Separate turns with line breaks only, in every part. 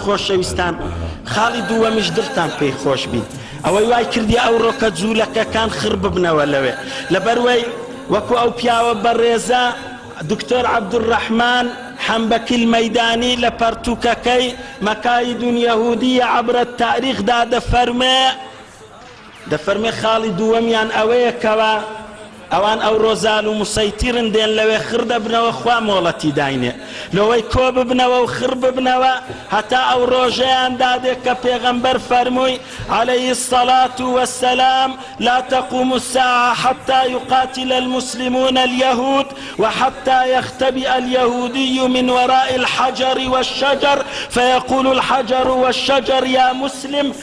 خۆشەویستان خاڵی دووەمیش دڵتان پێی خۆش بیت ئەوەی وای کردیە ئەو ڕۆکە جوولەکەکان خڕ ببنەوە لەوێ لەبەروەی وەکو ئەو پیاوە بەڕێزە دکتۆر عەبدولڕەحمان حەمبەکیل مەیدانی لە پەڕتووکەکەی مەکاید یەهودیە عەبرە تاریخ دا دەفەرمێ دەفەرموێ خاڵی دووەمیان ئەوەیە کەوا ئەوان ئەوڕۆ زال و مسەیتیرن دێن لەوێ خڕ دەبنەوە خوا مۆڵەتی داینێ لۆوەی کۆ ببنەوە و خڕ ببنەوە هەتا ئەو ڕۆژەیان دادێ کە پێغەمبەر فەرمووی عەلەیهی الصلاة والسلام لا تقوم الساعە حەتا یقاتل المسلمون الیهود وحەتا یختبئ الیهودی من وراء الحجر والشجر فیقول الحجر والشجر یا مسلم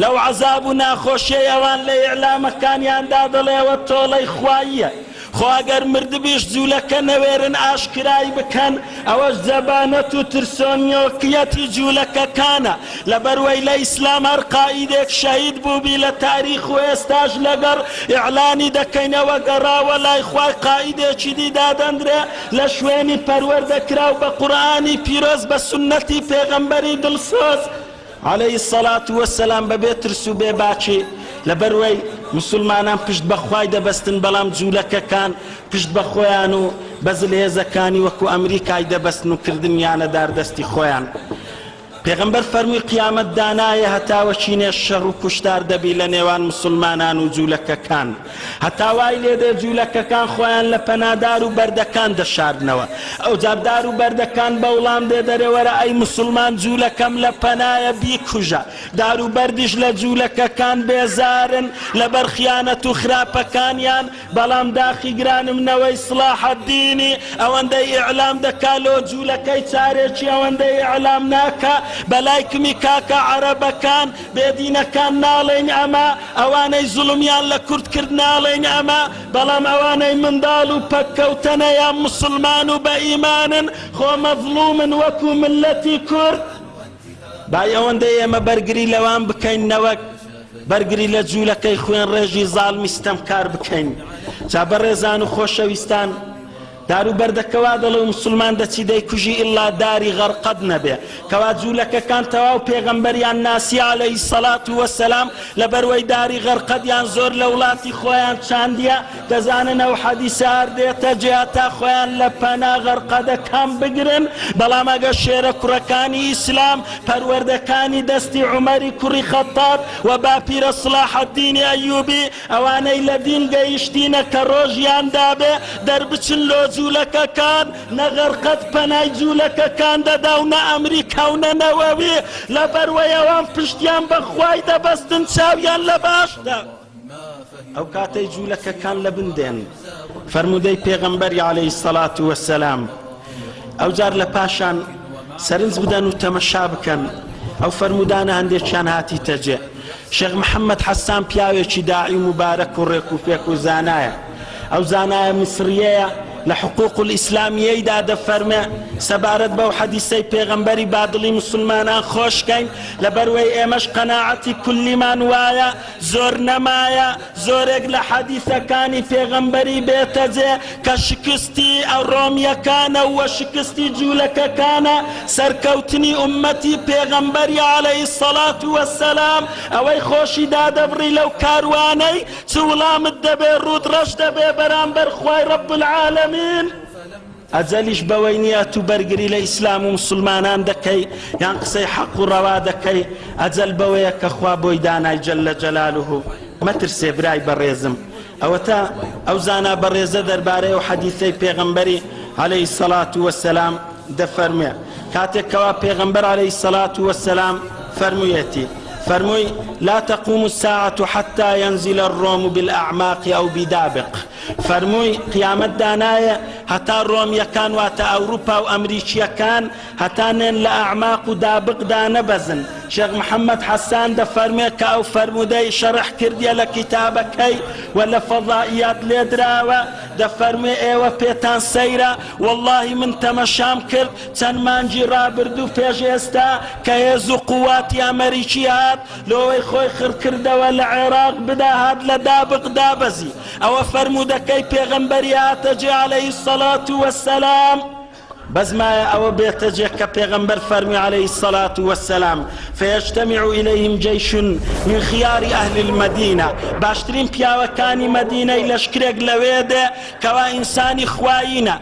لەو عەزاب و ناخۆشیەی ئەوان لە ئیعلامەکانیاندا دەڵێ ئەوە تۆڵەی خواییە، خۆ ئەگەر مردبیش جولەکە نەوێرن ئاشکرای بکەن ئەوەش زەبانەت و ترسۆنیۆکیەتی جولەکەکانە، لەبەر وەی لە ئیسلام هەر قائیدێک شەهید بوبی لە تاریخ و ئێستاش لەگەڵ ئیعلانی دەکەین ئەوە گەڕاوە لای خوای قائیدێکی دی دادەندرێ لە شوێنی پەروەردەکراو بە قورئانی پیرۆز بە سوننەتی پێغەمبەری دڵسۆز علیە الصلوە و السلام بەبێ ترس و بێ باکی، لەبەروەی موسلمانان پشت بە خوای دەبەستن بەڵام جولەکەکان پشت بە خۆیان و بە زلهێزەکانی وەکو ئەمریکای دەبەستن و کردنیانە دار دەستی خۆیان پێغەمبەر فەرموی قیامەت دانایێ هەتاوەکی نێ شەڕ و کوشتار دەبی لە نێوان موسلمانان و جولەکەکان. هەتا وای لێ دێ جوولەکەکان خۆیان لە پەنا دار و بەردەکان دەشاردنەوە. ئەوجار دار و بەردەکان بە وڵام دێ دەرێ وەرە ئەی موسڵمان جوولەکەم لە پەنایە بیکوژە. دار و بەردیش لە جوولەکەکان بێزارن لە بەر خیانەت و خراپەکانیان، بەڵام داخی گرانم نەوەی سڵاحەدینی ئەوەندەی ئیعلام دەکا لۆ جوولەکەی چارێکی ئەوەندەی ئیعلام ناکا بە لایکمی کاکە عەرەبەکان؟ بێدینەکان ناڵێین ئەمە، ئەوانەی زوڵمیان لە کورد کرد ناڵێین ئەمە، بەڵام ئەوانەی منداڵ و پەککەوتەنەیان موسڵمان و بە ئیمانن خۆ مەزڵومن وەکو میللەتی کورد، با ئەوەندەی ئێمە بەرگری لەوان بکەین نەوەک بەرگری لە جولەکەی خوێنڕێژی زاڵمی ستەمکار بکەین. جا بەڕێزان و خۆشەویستان، دارو بەردە کوا دەڵێ و مسوڵمان دەچی دەیکوژی ئیلا داری غەرقەد نەبێ کوا جولەکەکان تەواو پێغەمبەریان ناسی علیە الصلوة و السلام لەبەروەی داری غەرقەدیان زۆر لەوڵاتی خۆیان چاندیە دەزانن ئەو حەدیسە هەر دێتە جێ تا خۆیان لە پەنا غەرقەدەکان بگرن بەڵام ئەگەر شێرە کوڕەکانی ئیسلام پەروەردەکانی دەستی عومەری کوڕی خەتاب و باپیرە صلاح الدین ایوبی ئەوانەی لە دین گەیشتینە کە ڕۆژیان دابێ دەربچن لۆ جولەکەکان نە غەر قەت پەنای جولەکەکان دەدا و نە ئەمریکا و نە نەوەوی لە بەروەی ئەوان پشتیان بە خوای دەبەستن چاویان لە باشدا ئەو کاتەی جولەکەکان لە بن دێن. فەرموودەی پێغەمبەری عەلەیهی الصلوة والسلام ئەوجار لە پاشان سەرنج بدەن و تەمەشا بکەن ئەو فەرموودانە هەندێکیان هاتیتە جێ شێخ محەممەد حەسان پیاوێکی داعی مبارەک و ڕێک و پێک و زانایە ئەو زانایە میسریەیە لە حقوق ئیسلامیەیدا دەفەرمێ سەبارەت بەو حەدیسەی پێغەمبەری بادڵی مسلمانان خۆشکەین لەبەروەی ئێمەش قەناعەتی کولیمان وایە زۆر نەمایە زۆرێک لە حەدیسەکانی پێغەمبەری بێتە جێ کە شکستی ڕۆمیەکانە و شکستی جولەکەکانە سەرکەوتنی ئوممەتی پێغەمبەری علی الصلوە و السلام ئەوەی خۆشی دادەبڕی لەو کاروانەی چ وڵامت دەبێ ڕووت ڕەش دەبێ بەرامبەر خوای رب العالمین ئەجەلیش بەوەی نیە تو بەرگری لە ئیسلام و موسلمانان دەکەی یان قسەی حەق و ڕەوا دەکەی ئەجەل بەوەیە کە خوا بۆی دانای جل جلاله مەترسێ برای بەڕێزم ئەوەتا ئەو زانا بەڕێزە دەربارەی ئەو حەدیثەی پێغەمبەری علیە الصلاة والسلام دەفەرموێ کاتێک کەوا پێغەمبەر علیە الصلاة والسلام فەرموویەتی فەرمووی لا تقوم الساعة حتى ينزل الروم بالأعماق أو بدابق فەرمووی، قیامەت دانایێ هەتا ڕۆمییەکان واتە ئەوروپا و ئەمریکییەکان هەتا نێن لە ئەعماق و دابق دانەبەزن. شێخ محەمەد حەسان دەفەرموێ کە ئەو فەرموودەی شەرح کردیە لە کیتابەکەی و لە فەزائیات لێدراوە، دەفەرموێ، ئێوە پێتان سەیرە، وەڵڵاهی من تەمەشام کرد چەند مانگی ڕابردوو پێش ئێستا کە هێز و قوواتی ئەمریکی هات لۆوەی خۆی خڕکردەوە لە عێراق بدا هات لە دابق دابەزی. ئەوە فەرموودەکەی پێغەمبەری هاتەجێ عەلەیهی الصلوە والسلام. بەس مایە ئەوە بێتەجێ کە پێغەمبەر فەرمووی عەلەیهی الصلوە والسلام، فیجتمع الیهم جیش من خیار اهل المدینە، باشترین پیاوەکانی مەدینەی لەشکرێک لەوێ دێ کەوا ئینسانی خوایینە،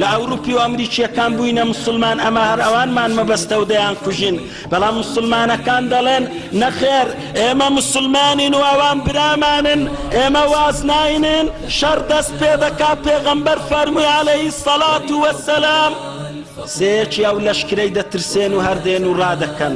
لە ئەوروپی و ئەمریکیەکان بوینە موسلمان ئەمە هەر ئەوانمان مەبەستە و دەیان کوژین بەڵام موسلمانەکان دەڵێن نەخێر ئێمە موسلمانین و ئەوان برامانن ئێمە واز ناینێن شەڕ دەست پێ دەکا پێغەمبەر فەرموی عەلەیهی سەڵات وەسەلام سێکی ئەو لەشکرەی دەترسێن و هەردێن و ڕادەکەن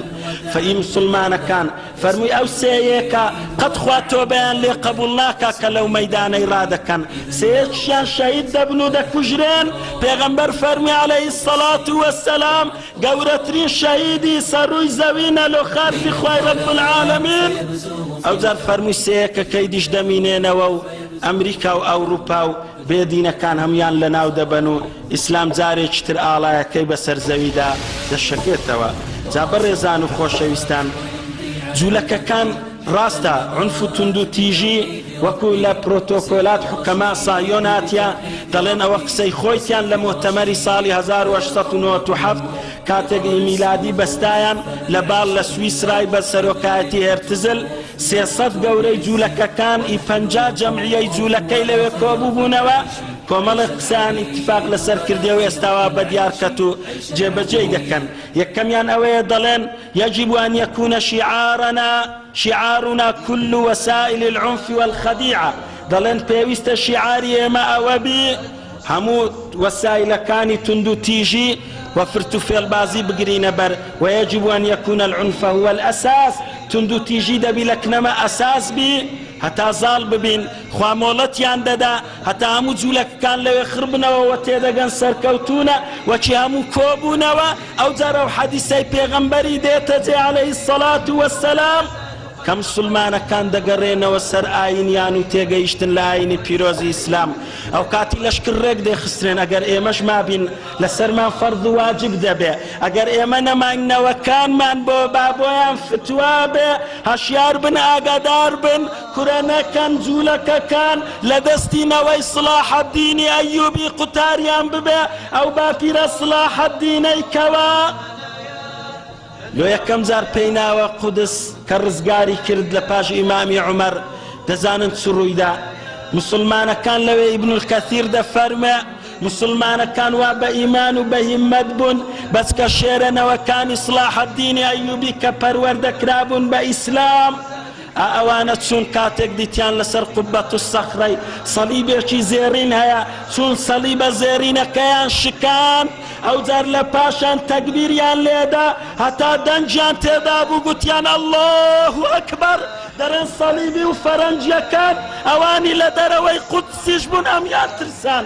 فەئی مسلمانەکان فەرمووی ئەو سێ یەکە قەت خوا تۆبەیان لێ قەبووڵ ناکا کە لەو مەیدانەی ڕادەکەن سێ یەکشیان شەهید دەبن و دەکوژرێن، پێغەمبەر فەرمووی علیە الصلوة و السلام گەورەترین شەهیدی سەر ڕووی زەوینە لۆ خاکی خوای رب العالمین، ئەوجار فەرمووی سێ یەکەکەی دیش دەمینێنەوە و ئەمریکا و ئەوڕوپا و. بێ دینەکان هەموویان لەناو دەبەن و ئیسلام جارێکی تر ئاڵایەکەی بەسەر زەویدا دەشەکێتەوە. جا بەڕێزان و خۆشەویستان جولەکەکان ڕاستە عونف و توندو تیژی وەکو لە پرۆتۆکۆلات حوکەما ساهیۆن هاتیە دەڵێن ئەوە قسەی خۆیتیان لە مۆتەمەری ساڵی هەزار و هەشت سەد و نەوەد و حەفت کاتێک ئی میلادی بەستایان لە باڵ لە سویسرای بە سەرۆکایەتی هێرتزل سێ سەد گەورەی جولەکەکان ی پەنجا جەمعیەی جولەکەی لەوێ کۆبوبونەوە کۆمەڵێک قسەیان ئیتفاق لەسەر کردیە و ئێستا وا بەدیار کەت و جێ بەجێی دەکەن یەکەمیان ئەوەیە دەڵێن یجب ان یکون شعارنا شعارنا کل وسائل العنف والخدیعە دەڵێن پێویستە شیعاری ئێمە ئەوەبی هەموو وەسایلەکانی توندوتیژی و فرتوفێڵبازی بگرینە بەر، ویجب ان یکون العنف هو الاساس، توندوتیژی دەبی لە کنەمە ئەساس بی هەتا زاڵ ببین، خوا مۆڵەتیان دەدا هەتا هەموو جولەکەکان لەوێ خڕ بنەوە و تێدەگەن سەرکەوتوونە و چی هەموو کۆبوونەوە ئەوجار ئەو حەدیسەی پێغەمبەری دێتە جێ علیە الصلوة والسلام، کە موسلمانەکان دەگەرێنەوە سەر ئاینیان و تێگەیشتن لە ئاینی پیرۆزی ئیسلام ئەوکاتی لەشکر رێک دەخسترێن ئەگەر ئێمەش مابین لەسەرمان فەرز و واجب دەبێ ئەگەر ئێمە نەماین نەوەکانمان بۆ با بۆیان فتوا بێ هەشیار بن ئاگادار بن کورە نەکەن جولەکەکان لە دەستی نەوەی صلاح الدینی ئەیوبی قوتاریان ببێ ئەو باپیرە صلاح الدینەی کەوا لۆ یەکەم جار پێی ناوە قودس کە ڕزگاری کرد لە پاش ئیمامی عومەر دەزانن چ ڕوویدا موسڵمانەکان لەوێ ئیبن الکەثیر دەفەرموێ موسڵمانەکان وا بە ئیمان و بە هیمەت بوون بەس کە شێرە نەوەکانی سڵاح الدین ئەیوبی کە پەروەردە کرابوون بە ئیسلام ئا ئەوانە چوون کاتێک دیتیان لەسەر قبە الصخرەی سەلیبێکی زێڕین هەیە چوون سەلیبە زێرینەکەیان شکاند ئەوجار لە پاشان تەگبیریان لێدا هەتا دەنگیان تێدابوو گوتیان اللە اکبر دەرێن سەلیبی و فەرەنجیەکان ئەوانی لە دەرەوەی قودسیش بوون ئەمیان ترسان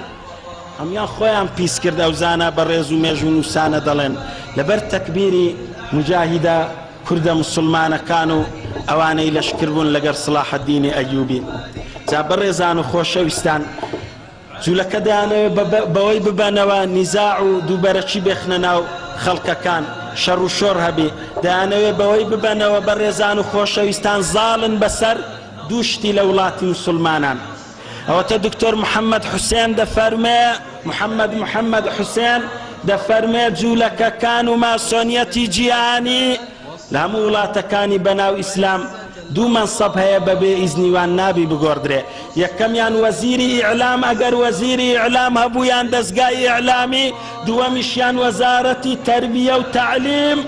ئەمیان خۆیان پیس کرد ئەو زانا بەڕێز و مێژوو نووسانە دەڵێن لەبەر تەکبیری مجاهیدە کوردە موسوڵمانەکان و ئەوانەی لەشکر بوون لەگەر سڵاحەدینی ئەیوبی جا بەڕێزان و خۆشەویستان جولەکە دەیانەوێت بەوەی ببەنەوە نیزاع و دووبەرەکی بێخنە ناو خەڵکەکان شەڕ و شۆڕ هەبێ دەیانەوێت بەوەی ببەنەوە بەڕێزان و خۆشەویستان زاڵن بەسەر دوو شتی لە وڵاتی موسوڵمانان ئەوەتا دکتۆر محەمەد حوسێن دەفەرمێ، محەمەد محەمەد حوسێن، دەفەرمێ جوولەکەکان و ماسۆنیەتی جیهانی لە هەموو وڵاتەکانی بەناو ئیسلام دوو مەنسەب هەیە بەبێ ئیزنی وان نابی بگۆڕدرێ یەکەمیان وەزیری ئیعلام ئەگەر وەزیری ئیعلام هەبوو یان دەزگای ئیعلامی دووەمیشیان وەزارەتی تەربیە و تەعلیم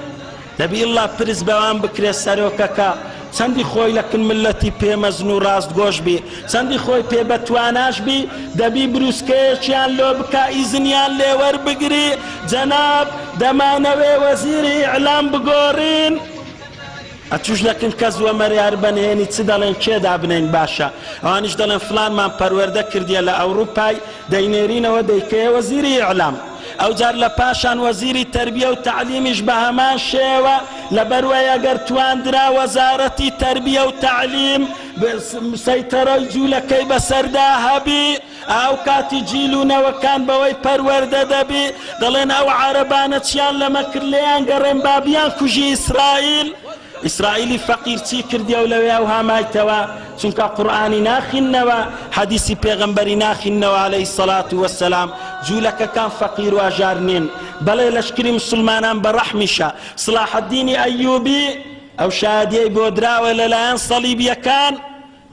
دەبی اللە پرس بەوان بکرێ سەرۆکەکە چەندی خۆی لە کن ملەتی پێ مەزن و ڕاست گۆش بی چەندی خۆی پێ بە تواناش بی دەبی بروسکەیەکیان لۆ بکا ئیزنیان لێ وەر بگری جەناب دەمانەوێ وەزیری ئیعلام بگۆرین ئەتوش لە کن کەس وە مەریار بە نهێنی چ دەڵێن کێ دابنین باشە ئەوانیش دەڵێن فلانمان پەروەردە کردیە لە ئەوڕوپای دەینێرینەوە دەیکەیە وەزیری ئیعلام. ئەوجار لە پاشان وەزیری تەربیە و تەعلیمیش بە هەمان شێوە، لەبەروەی ئەگەر تواندرا وەزارەتی تەربیە و تەعلیم سەیتەرەی جوولەکەی بەسەردا هەبی، ئاوکاتی جیل و نەوەکان بەوەی پەروەردە دەبی، دەڵێن ئەو عەرەبانە چیان لەمە کرد لێیان گەڕێن با بیان کوژی ئیسرائیل، ئیسرائیلی فەقیر چی کردیەو لەوێ ئەوها مایتەوە چونکە قورئانی ناخیننەوە حەدیسی پێغەمبەری ناخیننەوە علیە سەلات وەسەلام جولەکەکان فەقیر واژار نین بەڵێ لەشکری مسلمانان بەڕەحمیشە سڵاحەدینی ئەیوبی ئەو شادیەی بۆ دراوە لەلایەن سەڵیبیەکان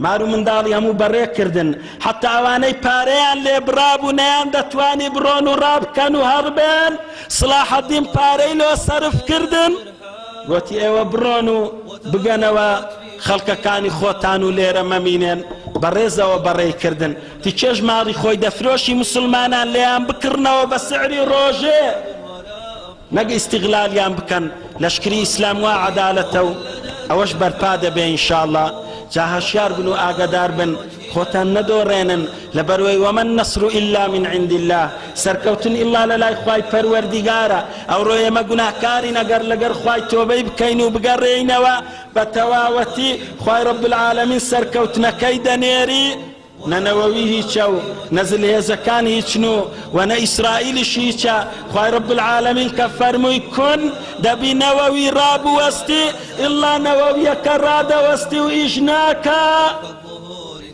مار و منداڵی هەموو بەڕێ کردن، حەتتا ئەوانەی پارەیان لێ بڕابوو نەیان دەتوانی بڕۆن و ڕابکەن و هەڕبێن، سڵاحەدین پارەی لۆ سەرف کردن، گۆتی ئێوە بڕۆن و بگەنەوە خەڵکەکانی خۆتان و لێرە مەمینێن، بە ڕێزەوە بەڕێی کردن، تکێش ماڵی خۆی دەفرۆشی موسڵمانان لێیان بکڕنەوە بە سعری ڕۆژێ. نەک ئیستیغلالیان بکەن لەشکری ئیسلام وا عەدالەتە و ئەوەش بەرپا دەبێ ان شاء اللە جا هەشیار بن و ئاگەدار بن خۆتان نەدۆڕێنن لەبەروەی وما النصر الا من عند اللە سەرکەوتن الا لەلای خوای پەروەردیگارە ئەوڕۆ ئێمە گوناهکارین ئەگەر لەگەر خوای تۆبەی بکەین و بگەڕێینەوە بەتەواوەتی خوای رب العالمین سەرکەوتنەکەی دەنێری نە نەوەوی هیچە و نە زلهێزەکان هیچن و وە نە ئیسرائیلیش هیچە خوای رب العالمین کە فەرمووی کون دەبی نەوەوی رابوەستی ئیلا نەوەویەکە رادەوەستی و ئیش ناکا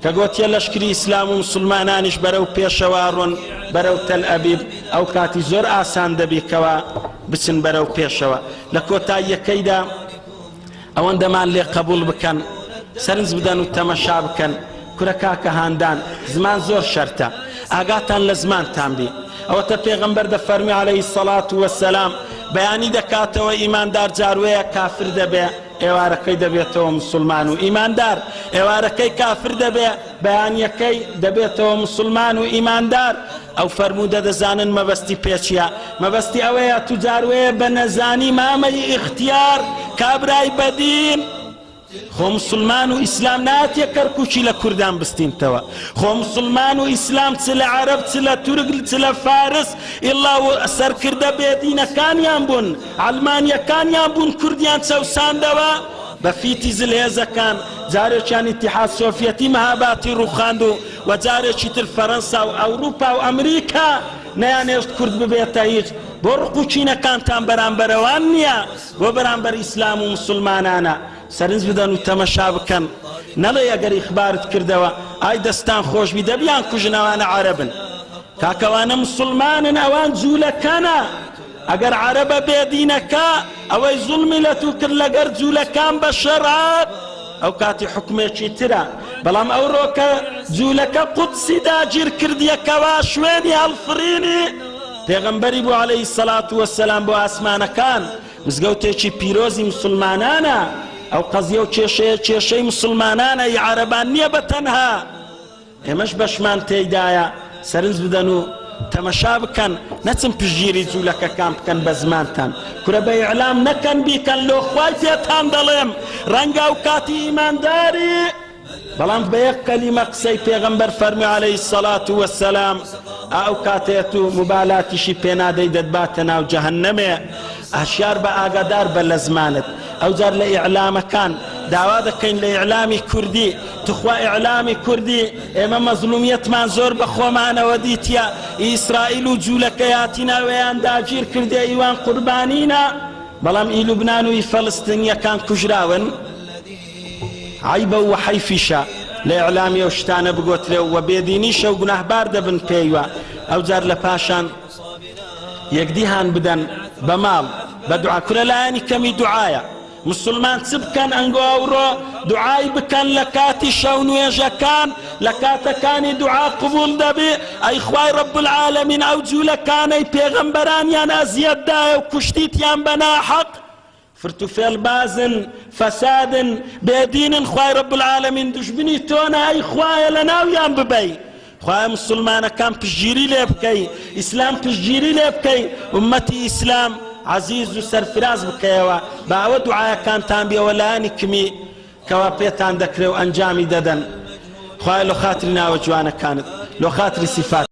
کە گۆتیە لەشکری ئیسلام و موسلمانانیش بەرەو پێشەوە ئەڕۆن بەرەو تەل ئەبیب ئەو کاتی زۆر ئاسان دەبی کەوا بچن بەرەو پێشەوە لە کۆتاییەکەیدا ئەوەندەمان لێ قەبوڵ بکەن سەرنج بدەن و تەمەشا بکەن کورە کاکە هاندان زمان زۆر شەرتە ئاگاتان لە زمانتان بی ئەوەتە پێغەمبەر دەفەرمی عەلەیهی الصڵات وەسەلام بەیانی دەکاتەوە ئیماندار جاروەیە کافر دەبێ ئێوارەکەی دەبێتەوە مسوڵمان و ئیماندار ئێوارەکەی کافر دەبێ بەیانیەکەی دەبێتەوە مسلمان و ئیماندار ئەو فەرموودە دەزانن مەبەستی پێچیە مەبەستی ئەوەیە توجاروەیە بە نەزانی مامەی ئیختیار کابرای بەدین خۆ مسلمان و ئیسلام ناتێ کەرکوچی لە کوردان بستینتەوە خۆ مسلمان و ئیسلام چ لە عرب چ لە تورک چ لە فارس ئڵا سەرکردە بێدینەکانیان بوون ئەلمانیەکانیان بوون کوردیان چەوساندەوە بە فیتی زل هێزەکان، جارێکیان ئیتیحاد سۆفیەتی مەهاباتی ڕووخاند و و جارێکی تر فەرەنسا و ئەوروپا و ئەمریکا نەیانهێشت کورد ببێتە هیچ، بۆ ڕق و کینەکانتان بەرامبەر ئەوان نییە، بۆ بەرامبەر ئیسلام و موسڵمانانە. سەرنج بدەن و تەمەشا بکەن، نەڵێی ئەگەر ئیخبارت کردەوە، ئای دەستان خۆشبی، دە بیانکوژن، ئەوانە عەرەبن. کاکە ئەوانە موسڵمانن، ئەوان جوولەکەنە. ئەگەر عەرەبە بێ دینەکە ئەوەی زوڵمی لەتوو کرد لەگەر جولەکان بە شەرعات ئەو کاتی حکومێکی ترە بەڵام ئەو رۆکە جولەکە قودسی داگیر کردیە کەوا شوێنی هەڵفرینی پێغەمبەری بوو عەلەیهی سەڵات وەسەلام بۆ ئاسمانەکان مزگەوتێکی پیرۆزی مسلمانانە ئەو قەزیە و کێشەیە کێشەی مسلمانانە ی عەرەبان نیە بەتەنها. ئێمەش بەشمان تێیدایە سەرنج بدەن و تەمەشا بکەن نەچن پشگیری جولەکەکان بکەن بە زمانتان کورە بە ئیعلام نەکەن بیکەن لۆ خوای پێتان دەڵێم ڕەنگە ئەو کاتی ئیمانداری بەڵام بە یەک کەلیمە قسەی پێغەمبەر فەرمی عەلەیهی الصەڵات وەسەلام ئا ئەو کاتەیە تو موبالاتیشی پێنادەی دەتباتە ناو جەهەنەمێ هەشیار بە ئاگادار بە لە زمانت ئەوجار لە ئیعلامەکان داوا دەکەین لە ئیعلامی کوردی توخوا ئیعلامی کوردی ئێمە مەزلومیەتمان زۆر بە خۆمانەوە دیتیە ئیسرائیل و جولەکەیاتینا وێیان داگیر کردێ ئیوان قوربانینا بەڵام ئی لوبنان و ئی فەلستنیەکان کوژراون عەیبە و حەیفیشە لە ئیعلامی ئەو شتانە بگۆترێ و وە بێدینیشە و گوناهبار دەبن پێیوە ئەوجار لە پاشان یەکدی هان بدەن بە ماڵ بە دوعا کورە لایەنی کەمی دوعایە مسوڵمان چ بکەن ئەنگۆ ئەوڕۆ دوعای بکەن لە کاتی شەو نوێژەکان لە کاتەکانی دوعا قبوڵ دەبێ ئەی خوای رب العالمین ئەو جولەکانەی پێغەمبەرانیان ئەزیەت دایە و کوشتیتیان بە ناحەق فرت و فێڵ بازن فەسادن بێدینن خوای رب العالمین دوژمنی تۆنە ئەی خوایە لە ناویان ببەی خوایە موسلمانەکان پشتگیری لێ بکەی ئیسلام پشتگیری لێ بکەی ئومەتی ئیسلام عزیز و سەرفراز بکەیەوە بە ئەوە دوعاەکانتان بێەوە لایانی کمی کەوا پێتان دەکرێ و ئەنجامی دەدەن خوای لە خاتری ناوە جوانەکانت لە خاتری سیفات